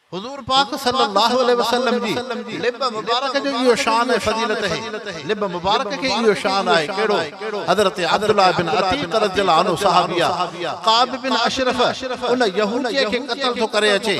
حضور پاڪ صلّي اللّٰه عليه وسلّم جي لب مبارڪ جو اهو شان ۽ فضيلت هي. لب مبارڪ کي اهو شان آهي ڪهڙو؟ حضرت عبدالله بن عتيق رضي الله عنه صحابيء ڪعب بن اشرف ان يهوديء کي قتل ٿو ڪري اچي،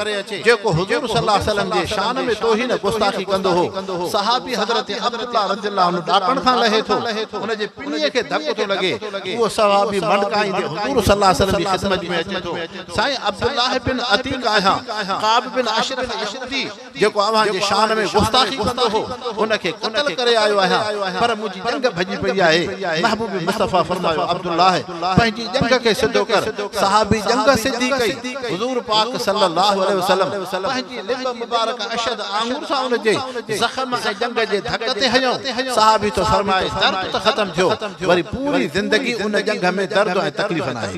جيڪو حضور صلّي اللّٰه عليه وسلّم جي شان ۾ توهين ۽ گستاخي ڪندو هو. صحابي حضرت عبدالله رضي الله عنه ڏاڪڻ کان لهي ٿو، ان جي پنيء کي ڌڪ ٿو لڳي. اهو صحابي منڊڪائيندي حضور صلّي اللّٰه عليه وسلّم جي خدمت ۾ اچي ٿو. سائين عبدالله بن عتيق آهيان، ڪعب بن اشرف يهودي جيڪو اوهان جي شان ۾ گستاخي ڪندو هو، ان کي قتل ڪري آيو آهيان، پر منهنجي ڄنگهه ڀڄي پئي آهي. محبوب مصطفيٰ فرمايو، عبدالله! پنهنجي ڄنگهه کي سڌو ڪر. صحابي ڄنگهه سڌي ڪئي. حضور پاڪ صلّي اللّٰه عليه وسلّم پنهنجي لب مبارڪ اشهد آڱر سان ان جي زخم ۽ ڄنگهه جي ڌڪ تي هنيو. صحابي ٿو فرمائي، درد ته ختم ٿيو، وري پوري زندگي ان ڄنگهه ۾ درد ۽ تڪليف ناهي.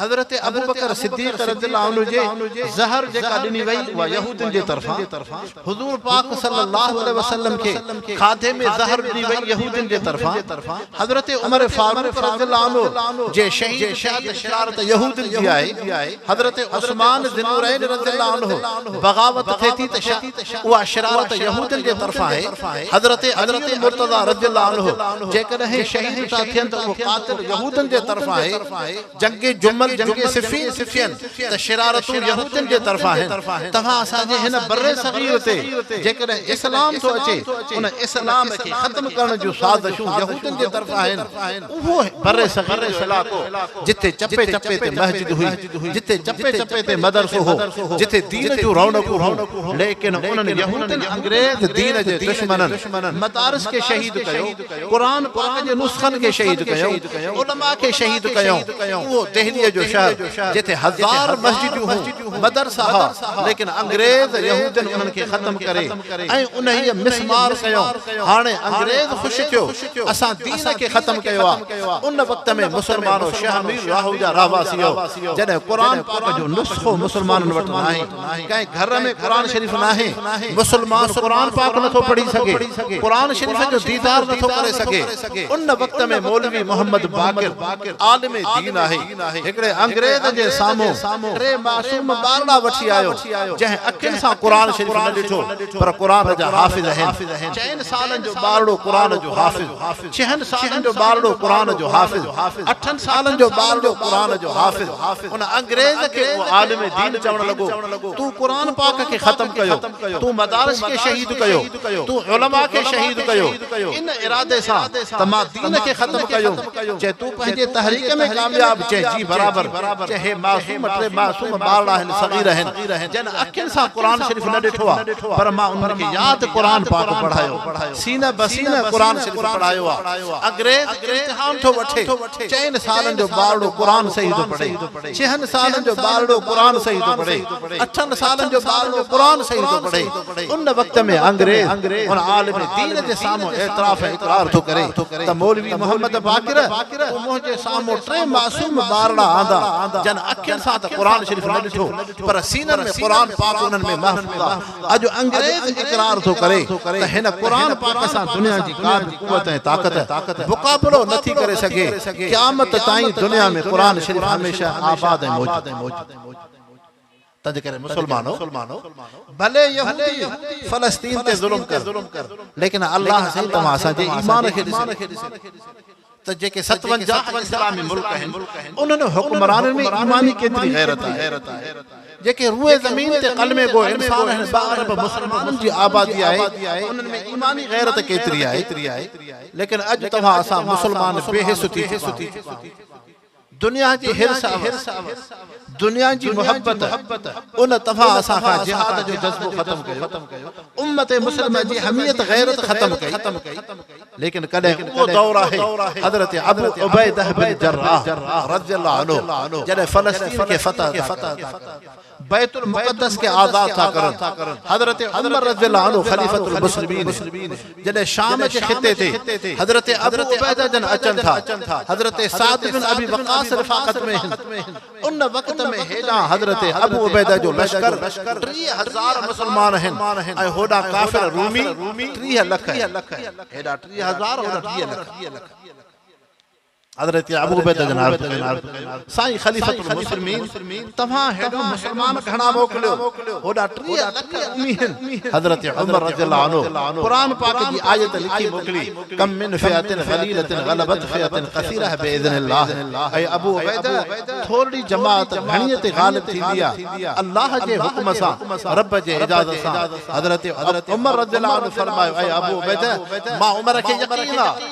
حضرت ابوبڪر صديق رضي الله عنه جي زهر جيڪا ڏني وئي اها يهودين جي طرفان حضور پاڪ صلي الله عليه وسلم کي کاڌي ۾ زهر ڏني وئي يهودين جي طرفان حضرت عمر فاروق رضي الله عنه جي شهيد ٿيا ته شرارت يهودين جي آهي حضرت عثمان ذي النورين رضي الله عنه بغاوت ٿئي ٿي ته اها شرارت يهودين جي طرفان آهي حضرت علي المرتضيٰ رضي الله عنه جيڪڏهن شهيد ٿا ٿين ته اهو قاتل يهودين جي طرفان آهي جنگ جمل، جنگ صفين، صفين ته شرارتون يهودين جي طرفان آهن. توهان اسان جي هن برصغير تي جيڪڏهن اسلام ٿو اچي، ان اسلام کي ختم ڪرڻ جون سازشون يهودين جي طرفان آهن. اهو برصغير جو علائقو جتي چپي چپي تي مسجد هئي، جتي چپي چپي تي مدرسو هو، جتي دين جون رونقون هيون، ليڪن انهن يهودين انگريز دين جي دشمنن مدارس کي شهيد ڪيو. قرآن پاڪ جي نسخن کي شهيد ڪيو، علماء کي شهيد ڪيو، اهو دهليء جو شهر جتي هزار مسجدون هون، مدرسا ها، ليڪن انگريز يهودين انهن کي ختم ڪري ۽ انهيء مسمار ڪيو، هاڻي انگريز خوش ٿيو، اسان دين کي ختم ڪيو آ، ان وقت ۾ مسلمانو شهر مير راهو جا رهواسيو، جڏهن قرآن پاڪ جو نسخو مسلمانن وٽ ناهي. ڪنهن گهر ۾ قرآن شريف ناهي، مسلمان قرآن پاڪ نٿو پڙهي سگهي، قرآن شريف جو ديدار نٿو ڪري سگهي. ان وقت ۾ مولوي محمد باقر عالم دين آهي، هڪڙي انگريز جي سامهون ٽي معصوم ٻارڙا وٺي آيو، جنهن اکين سان قرآن شريف نه ڏٺو، پر قرآن جا حافظ آهن. چئن سالن جو ٻارڙو قرآن جو حافظ. ڇهن سالن جو ٻارڙو قرآن جو حافظ، اٺن سالن جو ٻارڙو قرآن جو حافظ، ان انگريز کي اهو عالم دين چوڻ لڳو، تون قرآن پاڪ کي ختم ڪيو، تون مدارس کي شهيد ڪيو، تون علماء کي شهيد ڪيو، ان ارادي سان ته مان دين کي ختم ڪيو، چي تون پنهنجي تحريڪ ۾ ڪامياب، چي جي برابر، چي هي معصوم ٽي معصوم ٻارڙا آهن، صغير آهن، جن اکين سان قرآن شريف نه ڏٺو آهي، پر مان انهن کي ياد قرآن پاڪ پڙهايو. سينه به سينه قرآن شريف پڙهايو آ. اگريز امتحان ٿو وٺي. چئن سالن جو ٻارڙو قرآن صحيح ٿو پڙهي. ڇهن سالن جو ٻارڙو قرآن صحيح ٿو پڙهي. اٺن سالن جو ٻارڙو قرآن صحيح ٿو پڙهي. ان وقت ۾ انگريز ان عالم دين جي سامهون اعتراف ۽ اقرار ٿو ڪري ته مولوي محمد باقر تو منهنجي سامهون ٽي معصوم ٻارڙا آندا جن اکين سان ته قرآن شريف نه ڏٺو پر سينن ۾ قرآن پاڪ انهن ۾ محفوظ آ. اڄ انگريز اقرار ٿو ڪري ته هن قرآن پاڪ سان دنيا جي ڪا به قوت ۽ طاقت مقابلو نه ٿي ڪري سگهي، قيامت تائين دنيا ۾ قرآن شريف هميشه آباد ۽ موجود. تنهنجي ڪري مسلمانو! ڀلي يهودي فلسطين تي ظلم ڪن، ليڪن الله سائين توهان اسان جي ايمان کي ڏسي ٿو. ته جيڪي ستونجاهه اسلامي ملڪ آهن، انهن حڪمرانن ۾ ايماني ڪيتري غيرت آهي، جيڪي روئي زمين تي قلمي گو انسان آهن، ٻه ارب مسلمانن جي آبادي آهي، انهن ۾ ايماني غيرت ڪيتري آهي، ليڪن اڄ توهان اسان مسلمان بي حس ٿي چڪا آهيون. دنيا جي حرص اوس دنيا جي محبت ان تفا اسان کان جهاد جو جذبو ختم ڪيو امت مسلمه جي حميت غيرت ختم ڪئي ليڪن ڪڏهن اهو دور آهي حضرت ابو عبيده بن جراح رضي الله عنه جڏهن فلسطين کي فتح عطا ڪئي بيت المقدس کي آزاد ٿا ڪرن. حضرت عمر رضي الله عنه خليفة المسلمين جڏهن شام جي خطي تي حضرت ابو عبيده جن اچن ٿا حضرت سعد بن ابي وقاص رفاقت ۾ هن ان وقت ۾ هيڏانهن حضرت ابو عبيده جو لشڪر ٽيهه هزار مسلمان هن ۽ هوڏانهن ڪافر رومي ٽيهه لک هن هيڏانهن ٽيهه هزار هوڏانهن ٽيهه لک حضرت ابو عبيده جن عرض ڪئي، سائين خليفة المسلمين! توهان هيڏو مسلمان گهڻا موڪليو، هوڏا ٽيهه لک امي هن. حضرت عمر رضي الله عنه قرآن پاڪ جي آيت لکي موڪلي، ڪم من فئة قليلة غلبت فئة ڪثيرة بإذن الله، اي ابو عبيده! ٿورڙي جماعت گهڻيء تي غالب ٿيندي آهي، الله جي حڪم سان، رب جي اجازت سان. حضرت عمر رضي الله عنه فرمايو، اي ابو عبيده! مان عمر کي يقين آهي.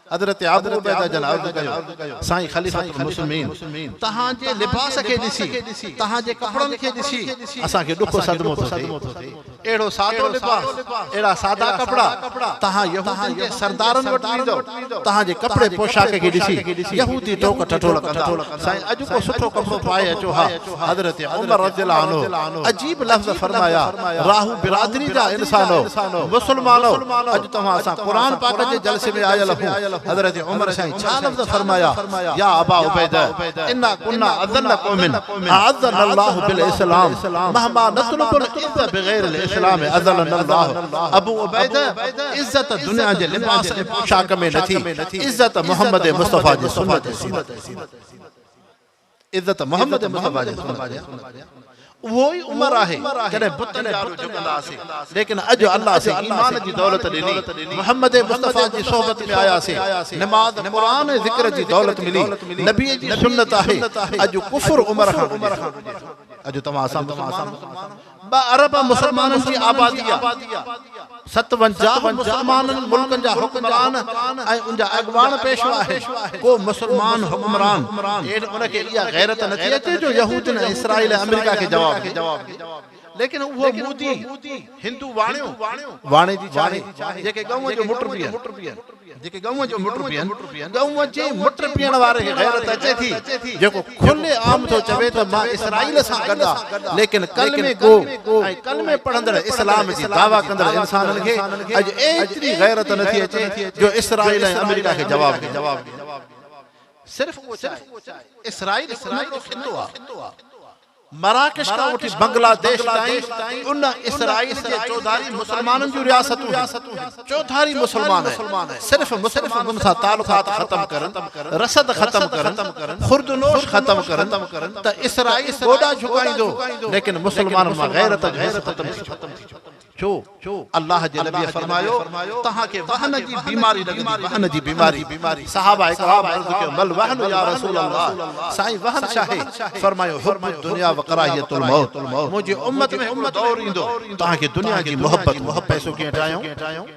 حضرت ابو عبيده جن عرض ڪيو، سائين خليفة المسلمين! توهان جي لباس کي ڏسي، توهان جي ڪپڙن کي ڏسي اسان کي ڏکو صدمو ٿو ٿئي. اهڙو سادو لباس، اهڙا سادا ڪپڙا، توهان يهودين جي سردارن وٽ ويندؤ، توهان جي ڪپڙي پوشاڪ کي ڏسي يهودي ٽوڪ ٺٺولا ڪندا، سائين اڄ ڪو سٺو ڪپڙو پائي اچو ها. حضرت عمر رضي الله عنه عجيب لفظ فرمايا، راهو برادري جا انسانو! مسلمانو! اڄ توهان سان قرآن پاڪ جي جلسي ۾ آيل هون. حضرت عمر سائين ڇا لفظ فرمايا، يا ابا عبيده! انا ڪنا اذل قوم اعزنا الله بالاسلام مهما نطلب العز بغير الاسلام اذلنا الله. ابو عبيده! عزت دنيا جي لباس ۽ پوشاڪ ۾ نٿي، عزت محمد مصطفيٰ جي سنت ۽ سيرت ۾. عزت محمد مصطفيٰ جي سنت تي آهي. اهو ئي عمر آهي جڏهن بتن جارو جهڪندا هئاسين، ليڪن اڄ الله سين ايمان جي دولت ڏني، محمد مصطفيٰ جي صحبت ۾ آياسين، نماز، قرآن ۽ ذڪر جي دولت ملي، نبيء جي سنت آهي، اڄ ڪفر عمر کان ڊڄي ٿو. اڄ توهان اسان مسلمان. ٻه ارب مسلمانن جي آبادي آ، ستونجاهه مسلمانن ملڪن جا حڪمران ۽ ان جا اڳواڻ پيشوا آهن، ڪو مسلمان حڪمران ڪين ان کي اها غيرت نه ٿي اچي جو يهودين ۽ اسرائيل ۽ آمريڪا کي جواب ڏي. ليڪن اهو مودي هندو واڻيو واڻي جي چاهي جيڪي ڳئون جو مٽ پيئن. جيڪي ڳئون جو مٽ پيئن، ڳئون جي مٽ پيئڻ واري کي غيرت اچي ٿي، جيڪو کلي عام ٿو چوي ته مان اسرائيل سان گڏ آ، ليڪن ڪلمي گو ۽ ڪلمي پڙهندڙ اسلام جي دعويٰ ڪندڙ انسانن کي اڄ ايتري غيرت نه ٿي اچي جو اسرائيل ۽ آمريڪا کي جواب ڏين. صرف اهو ڇا آهي؟ اسرائيل ڪنهن جو خطو آ؟ مراڪش کان وٺي بنگلاديش تائين ان اسرائيل جي چوڌاري مسلمانن جون رياستون هيون. چوڌاري مسلمان صرف مسلمانن سان تعلقات ختم ڪرن، رسد ختم ڪرن، خوردونوش ختم ڪرن ته اسرائيل گوڏا جهڪائيندو، ليڪن مسلمانن مان غيرت جو حس ختم ٿي چڪو. ڇو؟ الله جي نبيء فرمايو، توهان کي وهن جي بيماري لڳندي، وهن جي بيماري. صحابه ڪرام عرض ڪيو، مل وهن يا رسول الله! سائين وهن ڇاهي؟ فرمايو، حب الدنيا وڪراهيت الموت منهنجي امت ۾ هڪڙو دور ايندو، توهان کي دنيا جي محبت هوندي، پئسو ڪيئن ٽاهيون؟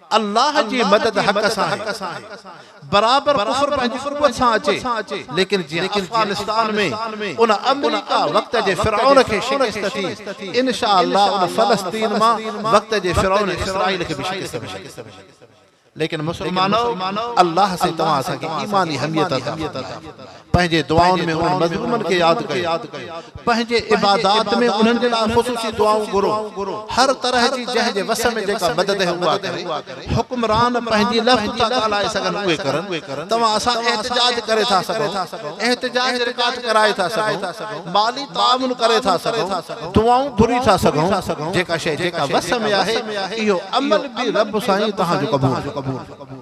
الله جي مدد حق سان آهي، برابر ڪفر پنهنجي قوت سان اچي، ليڪن جيئن افغانستان ۾ ان آمريڪا وقت جي فرعون کي شڪست ٿي، انشاء الله ان فلسطين مان وقت جي فرعون اسرائيل کي به شڪست ملي. ليڪن مسلمانؤ! الله سائين توهان اسان کي ايماني حميت عطا فرمائي. پنهنجي دعائن ۾ انهن مظلومن کي ياد ڪيو. پنهنجي عبادات ۾ انهن جي لاء خصوصي دعائون گهرو. هر طرح جي جنهن جي وس ۾ جيڪا مدد آهي اها ڪري. حڪمران پنهنجي لفظ ٿا ڳالهائي سگهن اهي ڪرن. توهان اسان احتجاج ڪري ٿا سگهون. احتجاج رڪارڊ ڪرائي ٿا سگهون. مالي تعاون ڪري ٿا سگهون. دعائون گهري ٿا سگهون. جيڪا شيء جيڪا وس ۾ آهي اهو عمل به رب سائين توهان جو قبول ڪري.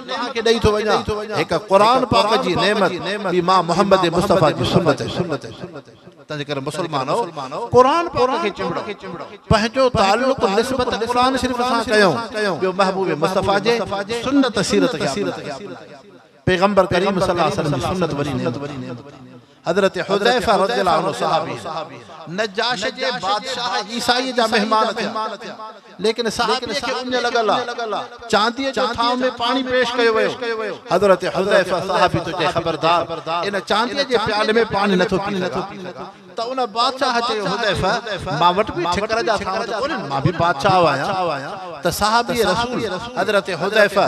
توهان کي ڏئي ٿو وڃان هڪ قرآن پاڪ جي نعمت ٻي مان محمد مصطفيٰ جي سنت تنهنجي ڪري مسلمانو قرآن پاڪ کي چنبڙو پنهنجو تعلق نسبت قرآن شريف سان ڪيو ٻيو محبوب مصطفيٰ جي سنت سيرت کي اپنائيو پيغمبر ڪريم صلي الله عليه وسلم جي سنت وڏي نعمت حضرت حذيفه رضي الله عنه صحابي نجاشي جي بادشاهه عيسائيء جا مهمان ٿيا، ليڪن صحابي کي اڃ لڳل آ، چانديء جو ٿانو ۾ پاڻي پيش ڪيو ويو، حضرت حذيفه صحابي ٿو چئي خبردار ان چانديء جي پيالي ۾ پاڻي نه ٿو پي سگهان، ته ان بادشاهه چيو حذيفه مان وٽ به ٺڪر جا ٿانو ته ڪونهن، مان به بادشاهه آهيان. ته صحابي رسول حضرت حذيفه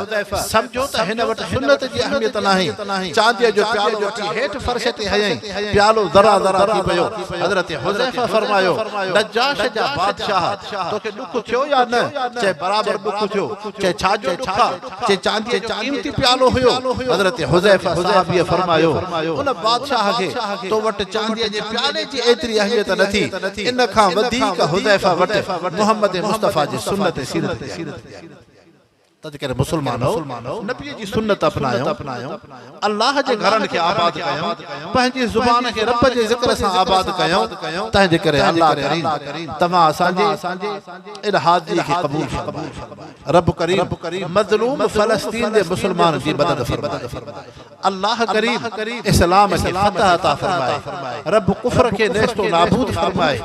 سمجهيو ته هن وٽ سنت جي اهميت ناهي، چانديء جو پيالو وٺي هيٺ فرش تي هنيائين، پيالو ذرا ذرا ٿي پيو، حضرت حذيفه فرمايو، نجاش جا بادشاهه! توکي ڏک ٿيو يا نه؟ چئي، برابر ڏک ٿيو، چئي، ڇا جو ڏک آ؟ جي چانديء جو قيمتي پيالو هيو. حضرت حذيفه صحابيء فرمايو، ان بادشاهه کي تو وٽ چانديء جي پيالي جي ايتري اهميت نه ٿي، ان کان وڌيڪ حذيفه وٽ محمد مصطفيٰ جي سنت سيرت جي اهميت ٿي آهي. تذڪري مسلمانو! نبيء جي سنت اپنايون، الله جي گهرن کي آباد ڪيون، پنهنجي زبان کي رب جي ذڪر سان آباد ڪيون، تنهنجي ڪري الله ڪريم توهان اسان جي ان حاضريء کي قبول فرمائي. رب ڪريم مظلوم فلسطين جي مسلمانن جي مدد فرمائي الله ڪريم اسلام کي فتح عطا فرمائي رب ڪفر کي نيست و نابود فرمائي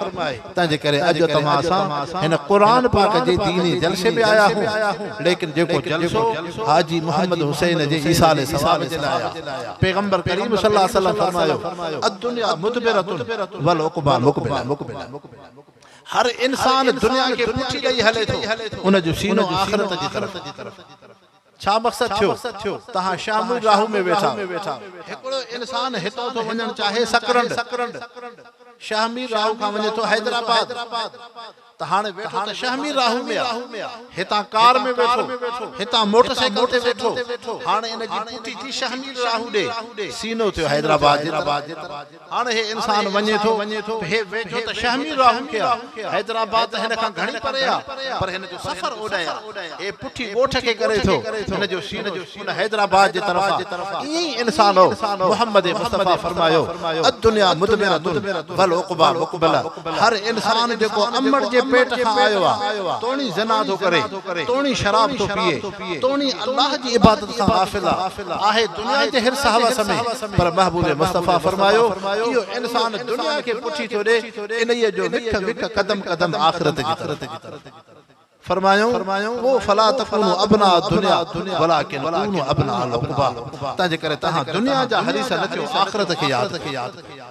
تنهن جي ڪري اڄ توهان سان هن قرآن پاڪ جي ديني جلسي ۾ آيا آهيون ليڪن جيڪو جلسو حاجي محمد حسين جي ايصال ثواب جي لاء آهي پيغمبر ڪريم صلي الله عليه وسلم فرمايو الدنيا مدبرة والعقبيٰ مقبلة هر انسان دنيا کي پٺي ڏئي هلي ٿو، ان جو سينو آخرت جي طرف آهي. ڇا مقصد ٿيو، توهان شاهموئي راهو ۾ ويٺا آهيو. هڪڙو انسان هتان ٿو وڃڻ چاهي سڪرنڊ، شاهمير راهو کان وڃي ٿو حيدرآباد ته هاڻي ويٺو ته شاهمير راهو ۾ آهي. هتان ڪار ۾ ويٺو، هتان موٽر سائيڪل تي ويٺو، هاڻي ان جي پٺي ٿي شاهمير راهو ڏي، سينو ٿيو حيدرآباد جي طرف. هاڻ هي انسان وڃي ٿو ته هي ويجهو ته شهمير راهو کي آ. حيدرآباد ته هن کان گهڻي پري آ، پر هن جو سفر اوڏانهن آ. هي پٺي ڳوٺ کي ڪري ٿو. هن جو سينو ان حيدرآباد جي طرف آ. ائين ئي انسان هو. محمد مصطفيٰ فرمايو، الدنيا مضمرة و العقبيٰ مقبلة. هر انسان جيڪو امڙ جي پيٽ کان آيو آ، توڻي زنا ٿو ڪري، توڻي شراب ٿو پيئي، توڻي الله جي عبادت کان غافل آهي دنيا جي حرص هوس ۾، پر محبوب مصطفيٰ فرمايو، اهو انسان دنيا کي پٺي ٿو ڏي، انهيء جو وک وک قدم قدم آخرت جي طرف آهي. فرمايائون، پوء فلا تڪونوا ابناء الدنيا ولڪن ڪونوا ابناء العقبيٰ، تنهنجي ڪري توهان دنيا جا حريص نه ٿيو، آخرت کي ياد ڪيو.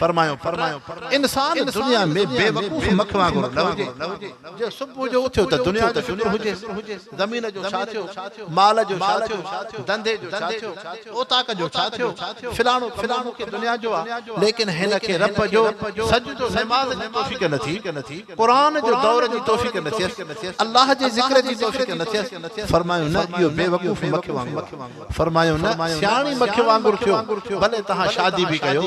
فرمايو ته انسان دنيا ۾ بي وقوف مک وانگر نه هجي، جي صبح جو اٿيو ته دنيا جو شڪر هجيس، زمين جو ڇا ٿيو، مال جو ڇا ٿيو، ڌنڌي جو ڇا ٿيو، اوطاق جو ڇا ٿيو، فلاڻو ڪم مون کي دنيا جو آ، ليڪن هن کي رب جو سجدو نماز جي توفيق نه ٿي، قرآن جو دور جي توفيق نه ٿيس، الله جي ذڪر جي توفيق نه ٿيس، فرمايو نه اهو بي وقوف مک وانگر آ. فرمايو نه سياڻي مک وانگر ٿيو ڀلي توهان شادي به ڪيو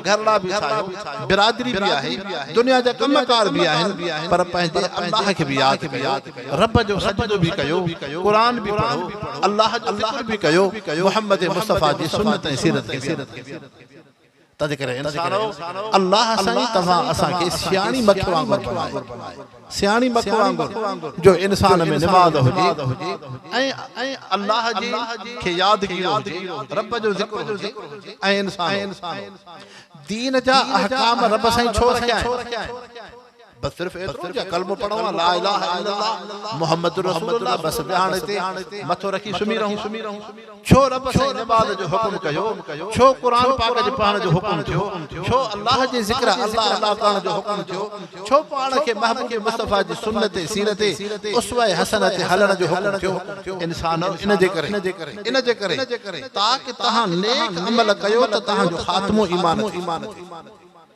گهرڙا به ٺاهيو برادري به آهي دنيا جا ڪم ڪار به آهن پر پنهنجي الله کي به ياد ڪيو رب جو سجدو به ڪيو قرآن به پڙهو الله جو ذڪر به ڪيو محمد مصطفيٰ جي سنت ۽ سيرت کي به تنھنڪري انسانؤ! الله سائين توھان اسان کي سياڻي مک وانگر بنائي، سياڻي مک وانگر جو انسان ۾ نماز ھجي ۽ الله جي کي يادگيرو ھجي، رب جو ذڪر ھجي ۽ انسانؤ! دين جا احڪام رب سائين ڇو رکيائين؟ بس صرف ايترو جا ڪلمو پڙهون ها لا اله الا الله محمد رسول الله بس ويهان هتي مٿو رکي سمهي رهون ڇو رب سائين نماز جو حڪم ڪيو ڇو قرآن پاڪ جي پڙهڻ جو حڪم ٿيو ڇو الله جي ذڪر الله الله ڪرڻ جو حڪم ٿيو ڇو پاڻ کي محبوب مصطفيٰ جي سنت سيرت اسوه حسنه تي هلڻ جو حڪم ٿيو انسانو ان جي ڪري ان جي ڪري تاڪ تهان نيڪ عمل ڪيو ته تهان جو خاتمو ايمان تي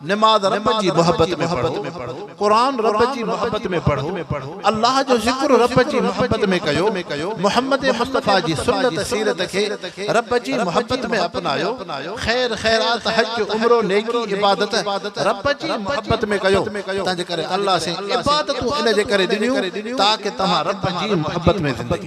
نماز رب جي محبت ۾ پڙهو، قرآن رب جي محبت ۾ پڙهو، الله جو ذڪر رب جي محبت ۾ ڪيو، محمد مصطفيٰ جي سنت سيرت کي رب جي محبت ۾ اپنايو، خير خيرات، حج، عمرو، نيڪي، عبادت رب جي محبت ۾ ڪيو، تنهنجي ڪري الله سين عبادتون ان جي ڪري ڏنيون تاڪه توهان رب جي محبت ۾ زندگي.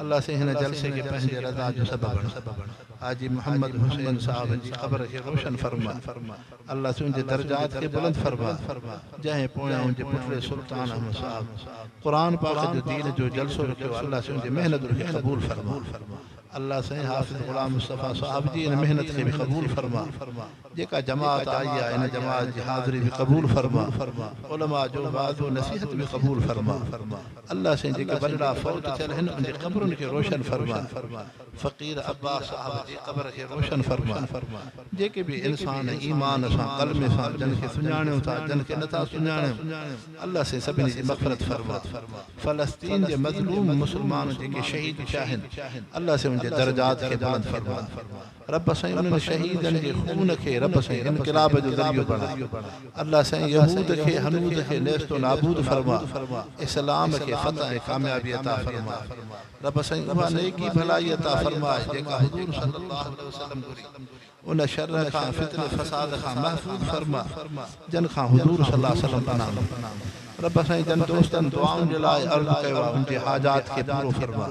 الله سين هن جلسي کي پنهنجي رضا جو سبب بڻاء حاجي محمد حسين صاحب جي قبر کي روشن فرماء الله سين جي درجات کي بلند فرماء جنهن پويائون جي پٽڙي سلطان احمد صاحب قرآن پاڪ جو دين جو جلسو رکيو الله سين جي محنت کي قبول فرماء الله سين حافظ غلام مصطفي صاحب جي ان محنت کي به قبول فرماء جيڪا جماعت آئي آهي ان جماعت جي حاضري به قبول فرما علماء جو وعظ و نصيحت به قبول فرما الله سائين جيڪي وڏڙا فوت ٿيل آهن ان جي قبرن کي روشن فرما فقير عباس صاحب جي قبر کي روشن فرما جيڪي به انسان ايمان سان ڪلمي سان جن کي سڃاڻيون ٿا جن کي نٿا سڃاڻيون الله سائين سڀني جي مغفرت فرما فلسطين جي مظلوم مسلمان جيڪي شهيد ٿيا آهن الله سائين ان جي درجات کي بلند فرما رب سائين انهن شهيدن جي خون کي رب سائين انقلاب جو ذريعو بڻاء الله سائين يهود کي هنود کي نيست و نابود فرماء اسلام کي فتح ۽ ڪاميابي عطا فرماء رب سائين اها نيڪي ڀلائي عطا فرماء جيڪا حضور صلي الله عليه وسلم گهري ان شر کان فتني فساد کان محفوظ فرماء جن کان حضور صلي الله عليه وسلم پناهه ورتي رب سائين جن دوستن دعائن جي لاء عرض ڪيو آهي ان جي حاجات کي پورو فرماء